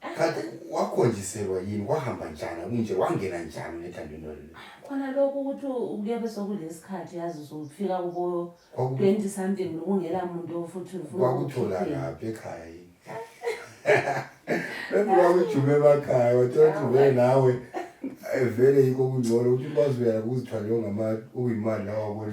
kanti wakhonjiselwa yini wahamba njani kunje wangena njani unethandweni lolu khona lokhu ukuthi kuyabe sekulesikhathi yazi usufika kubo Kwaku- 20 something kungela muntu futhi ufuna kwakuthola ukukhipha. ngaphi ekhaya yini bekuwakujume emakhaya wathola ukuthi vele nawe eh, vele yikho kungcono ukuthi ukwazi uyala kuzithwale ongama uyimali lawa wabone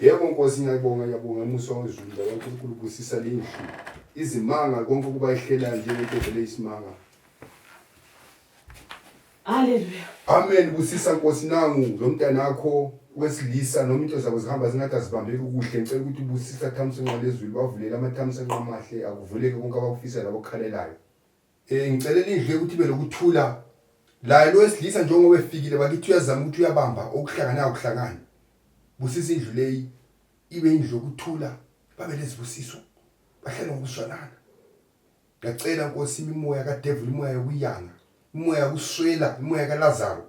Yebo Nkosi ngiyabonga ngiyabonga umusa wezulu baba uNkulunkulu busisa lendlu izimanga konke ukuba ihlelayo njengento vele isimanga Haleluya. Amen busisa Nkosi nangu lo mntana wakho wesilisa noma into zabo zihamba zingathi azibambeki kuhle ngicela ukuthi ubusisa thamsanqa lezulu bavulela amathamsanqa amahle akuvuleke konke abakufisa labo kukhalelayo Eh ngicelela indlu ukuthi ibe lokuthula. Laye lo wesilisa njengoba efikile bakithi uyazama ukuthi uyabamba okuhlangana ukuhlangana. Busisa indlu leyi ibe indlu yokuthula babe lezibusiso bahlale ngokuzwanana. Ngiyacela Nkosi imimoya kaDevil imoya yokuyanga, imoya yokuswela, imoya kaLazaro.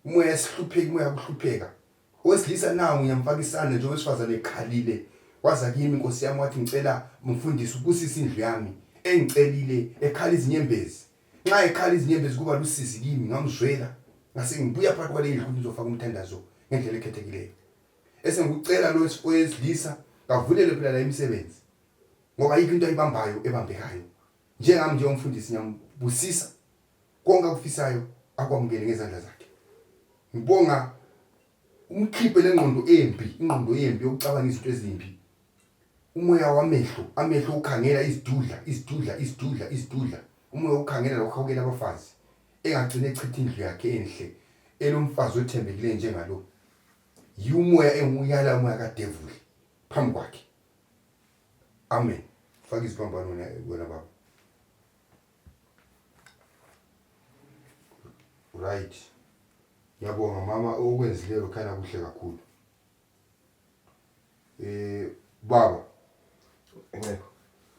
Imoya yesihlupheki, imoya yokuhlupheka. Owesilisa nawo ngiyamfaka isandla nje owesifazane ekhalile waza kimi Nkosi yami wathi ngicela mfundisi ubusisa indlu yami engicelile ekhala izinyembezi nxa ekhala izinyembezi kuba lusizi kimi ngamzwela ngasengibuya phakathi kwaleyi ndlu ngizofaka umthandazo ngendlela ekhethekileyo esengikucela lo owesilisa kavulele phela la imisebenzi ngoba yikho into ayibambayo ebambekayo njengami njengomfundisi ngiyambusisa konke akufisayo akwamukele ngezandla zakhe ngibonga umkhiphe lengqondo embi ingqondo embi yokucabanga izinto ezimbi umoya wamehlo amehlo ukhangela izidudla izidudla izidudla izidudla umoya ukhangela lokuhawukela abafazi engagcina echitha indlu yakhe enhle elomfazi othembekileyo njengalo yiwumoya engiwuyala umoya kadevuli phambi kwakhe amen faka iziphambanona wena baba Right. Ngiyabonga mama okwenzileyo khanya kuhle kakhulu. Eh baba. Ngeke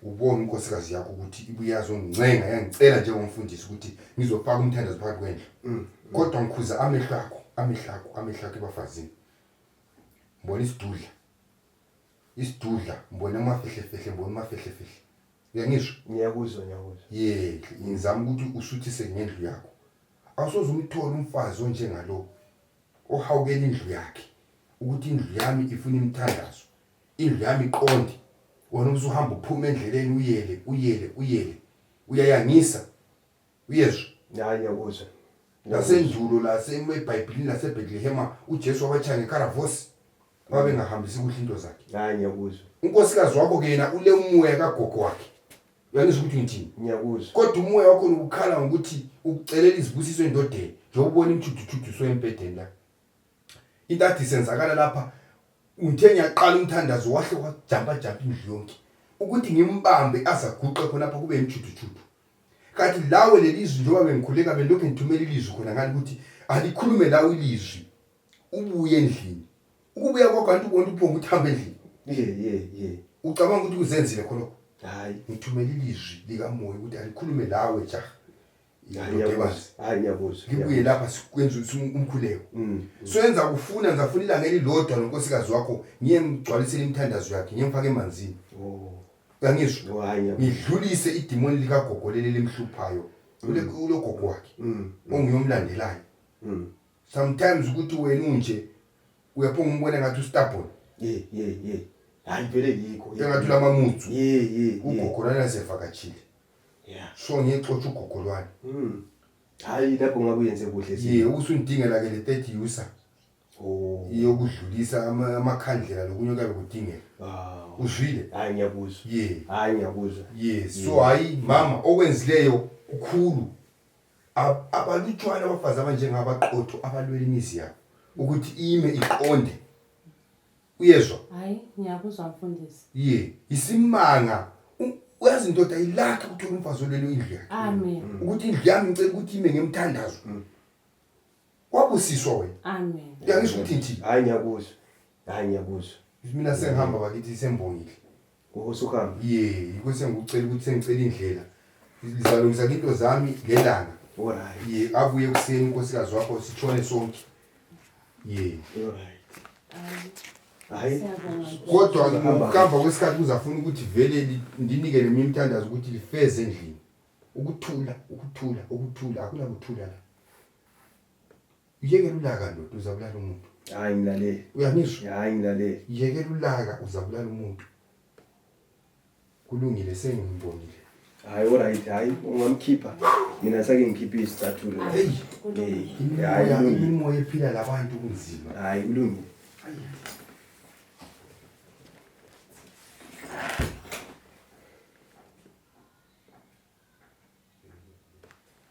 ubone inkosikazi yakho ukuthi ibuyazoncenga yangicela njengomfundisi ukuthi ngizofaka umthandazo phakathi kwendlu mm. kodwa ngikhuza amehlo akho amehlo akho amehlo akho ebafazini mbona isidudla isidudla mbona amafihlefehle mbona amafihlefehle uyangisho ngiyakuzwa ngiyakuzwa yeke ngizama ukuthi usuthise ngendlu yakho awusoze umthole umfazi onjengalo ohawukela indlu yakhe ukuthi indlu yami ifuna imithandazo indlu yami iqonde wena ubusuhamba uphuma endleleni uyele uyele uyele uyayangisa uyezwa hayi ngiyakuzwa nasendulo lasebhayibhilini lasebetlehema ujesu wabatshaya ngekaravosi babengahambisi kuhle into zakhe hayi ngiyakuzwa unkosikazi wakho ke yena ule umoya kagogo wakhe uyangizwa ukuthi ngithini ngiyakuzwa kodwa umoya wakho nokukhala ngokuthi ukucelela izibusiso endodeni njengokubona imthuduthuduso embhedeni la into ade isenzakala lapha ngithe ngiyaqala umthandazo wahle wajampajampa indlu yonke ukuthi ngimbambe azaguqe khonapha kube yimjuthujudu kanti lawe leli zwi njengoba bengikhuleka belokhu ngithumela ilizwi khona ngani ukuthi alikhulume lawe ilizwi ubuye endlini ukubuya kwakho anti ubona uphonga ukuthi hambe endlini ye ye ye ucabanga ukuthi kuzenzile khonokho hayi ngithumela ilizwi likamoya ukuthi alikhulume lawe jaha ngibuye lapha sikwenza umkhuleko mm, mm. soyenza kufuna ngizafuna ilanga elilodwa nonkosikazi wakho ngiye ngigcwalisele imithandazo yakhe ngiye ngifake emanzini oh. kangizwa oh, ngidlulise idimoni likagogo leli limhluphayo mm. ulogogo wakhe onguyomlandelayo sometimes ukuthi wena unje uyaphonga umbona ngathi ustabon hayi vele yikho engathi ulamamutsu ugogo nanasevakatshile yeah. so ngiyexotsha ugogo lwani mm. hayi lapho ngabe uyenze kuhle ye usundingela ke le third user oh. yokudlulisa amakhandlela lokunye kuyabe kudingeka ah. uzwile hayi ngiyakuzwa ye hayi ngiyakuzwa ye so hayi mama okwenzileyo kukhulu abalutshwana abafazi abanjengabaqotho abalwela imizi yabo ukuthi ime iqonde uyezwa hayi ngiyakuzwa mfundisi ye yisimanga uyazi ndoda ilakha ukuthola umfazi olelo indlu yakhe amen mm. ukuthi indlu yami ngicela ukuthi ime ngemthandazo mm. wabusiswa wena amen uyangisho ukuthi nje hayi ngiyakuzwa hayi ngiyakuzwa mina sengihamba bakithi sembongile Ngokosuhamba. Ye, yikho sengikucela ukuthi sengicela indlela. Ngizalungisa into zami ngelanga. Alright. Ye, abuye ekuseni unkosikazi wakho sitshone sonke. Ye. Alright. Hayi. Siyabonga. Kodwa Singahamba. ngokuhamba kwesikhathi kuzafuna ukuthi vele li- ndinike nemi imithandazo ukuthi lifeze endlini. Ukuthula, ukuthula, ukuthula, akunakuthula la. Yekela ulaka ndoda uzabulala umuntu. Hayi ngilalele. Uyangisho? Hayi ngilalele. Yekela ulaka uzabulala umuntu. Kulungile sengimbonile. Hayi alright hayi ungamkhipha. Mina sake ngikhiphe isicathulo. Hey. Hayi kulungile. Imoya ephila labantu kunzima. Hayi kulungile.